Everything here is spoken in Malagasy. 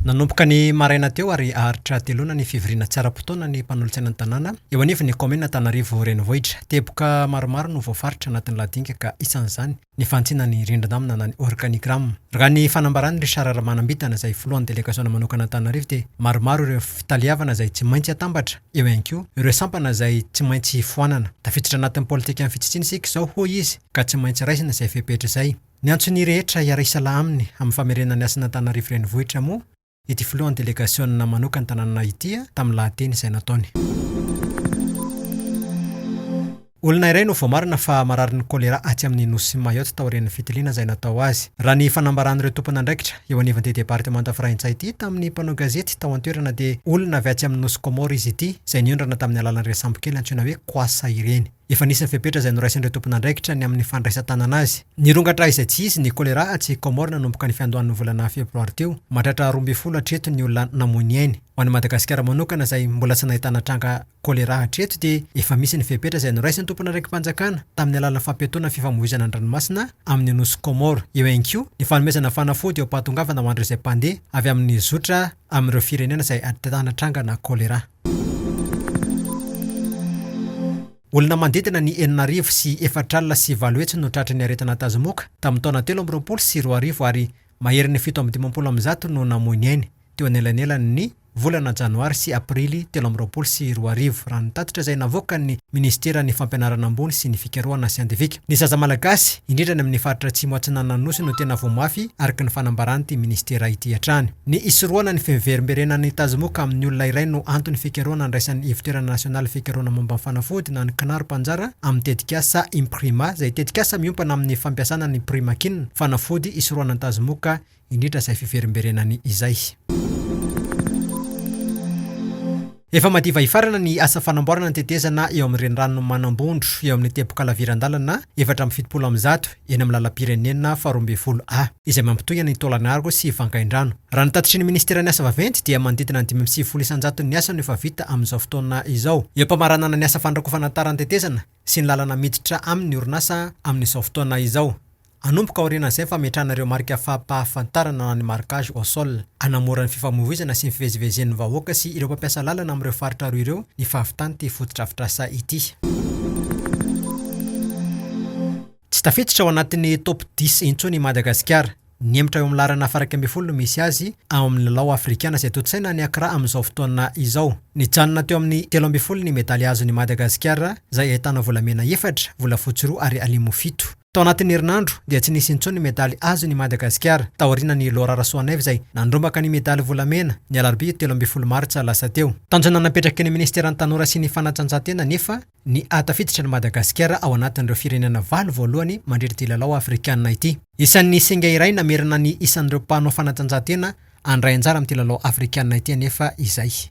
Nanomboka ny maraina teo ary haharitra hateloana ny fivoriana tsy ara-potoana ny mpanolotsaina ny tanàna eo anivon'ny kaominina Antananarivo Renivohitra. Teboka maromaro no voafaritra anatin'ny lahadenga ka isan'izany ny fantsina ny rindrin-damina na ny organigramme. Raha ny fanambaran'i Richard Ramanambitana izay filohan'ny delegasiona manokana Antananarivo dia maromaro ireo fitaleavana izay tsy maintsy atambatra, eo ihany koa ireo sampana izay tsy maintsy foanana. Tafiditra anatin'ny politikan'ny fitsitsiana isika izao hoy izy ka tsy maintsy raisina izay fepetra izay. Niantso ny rehetra hiara-hisalaha aminy amin'ny famerenana ny asan'Antananarivo Renivohitra moa ity filohan'ny delegasiona manokan'ny tanàna ity tamin'ny lahateny izay nataony. Olona iray no voamarina fa mararin'ny Choléra atsy amin'ny Nosy Mayotte taorian'ny fitiliana izay natao azy, raha ny fanambaran'ireo tompon'andraikitra eo anivon'ity departemanta franitsay ity tamin'ny mpanao gazety tao an-toerana dia olona avy atsy amin'ny Nosy Comores izy ity izay niondrana tamin'ny alalan'ireny sambokely antsoina hoe Kwassa ireny. Efa nisy ny fepetra izay noraisin'ireo tompon'andraikitra ny amin'ny fandraisan-tanana azy. Nirongatra izay tsy izy ny Choléra atsy Comores nanomboka ny fiandohan'ny volana febroary teo. Mahatratra roa ambin'ny folo hatreto ny olona namoy ny ainy. Ho an'i Madagasikara manokana izay mbola tsy nahitana tranga Choléra hatreto dia efa misy ny fepetra izay noraisin'ny tompon'andraiki-panjakana tamin'ny alalan'ny fampiatoana fifamoivoizana an-dranomasina amin'ny nosy Comores. Eo ihany koa ny fanomezana fanafody eo am-pahatongavana ho an'ireo izay mpandeha avy amin'ny zotra amin'ireo firenena izay ahitana trangana Choléra. Olona manodidina ny enina arivo sy efatra alina sy valo hetsy no tratry ny aretina tazomoka tamin'ny taona telo amby roapolo sy roa arivo ary maherin'ny fito amby dimampolo amin'ny zato no namoy ny ainy teo anelanelan'ny volana janoary sy aprily telo amby roapolo sy roa arivo, raha ny tatitra izay navoakan'ny minisiteran'ny Fampianarana ambony sy ny fikarohana siantifika. Ny zaza malagasy, indrindra any amin'ny faritra Atsimo Atsinanan'ny Nosy no tena voa mafy, araka ny fanambaran'ity minisitera ity hatrany. Ny hisorohana ny fiverimberenan'ny tazomoka amin'ny olona iray no anton'ny fikarohana andraisan'ny Ivotoerana Nasionaly Fikarohana Momba ny Fanafody na ny CNAR mpanjara amin'ny tetikasa Imprima izay tetikasa miompana amin'ny fampiasana ny Primakin, fanafody hisorohana ny tazomoka indrindra izay fiverimberenany izay. Efa madiva hifarana ny asa fanamboarana ny tetezana eo amin'ny renirano Manambondro, eo amin'ny teboka-laviran-dalana efatra amby fitopolo amby zato, eny amin'ny lalam-pirenena faharoa ambin'ny folo A, izay mampitohy an'i Tôlanargo sy Vangaindrano. Raha ny tatitry ny Ministeran'ny Asa Vaventy dia manodidina ny dimy amby sivifolo isan-jato ny asa no efa vita amin'izao fotoana izao, eo am-pamaranana ny asa fandrakofana tara ny tetezana sy ny lalana miditra aminy ny orinasa amin'izao fotoana izao. Hanomboka aorianan'izay ny fametrahana ireo marika fampahafantarana na ny marquage au sol. Hanamora ny fifamoivoizana sy ny fivezivezen'ny vahoaka sy ireo mpampiasa lalana amin'ireo faritra roa ireo ny fahavitan'ity fotodrafitrasa ity. Tsy tafiditra ao anatin'ny top dix intsony i Madagasikara. Nihemotra eo amin'ny laharana faraika ambin'ny folo no misy azy ao amin'ny lalao afrikana izay tontosaina any Accra amin'izao fotoana izao. Nijanona teo amin'ny telo ambin'ny folo ny medaly azon'i Madagasikara izay ahitana volamena efatra, volafotsy roa ary alimo fito. Tao anatin'ny herinandro dia tsy nisy intsony medaly azony i Madagasikara, taorianan'i Laura Rasoanaivo izay nandrombaka ny medaly volamena, ny alarobia telo ambin'ny folo martsa lasa teo. Tanjona napetraky ny Ministeran'ny Tanora sy ny Fanatanjahantena anefa ny hahatafiditra an'i Madagasikara ao anatin'ireo firenena valo voalohany mandritra ity lalao afrikanina ity. Isan'ny singa iray namerana ny isan'ireo mpanao fanatanjahantena handray anjara amin'ity lalao afrikanina ity anefa izay.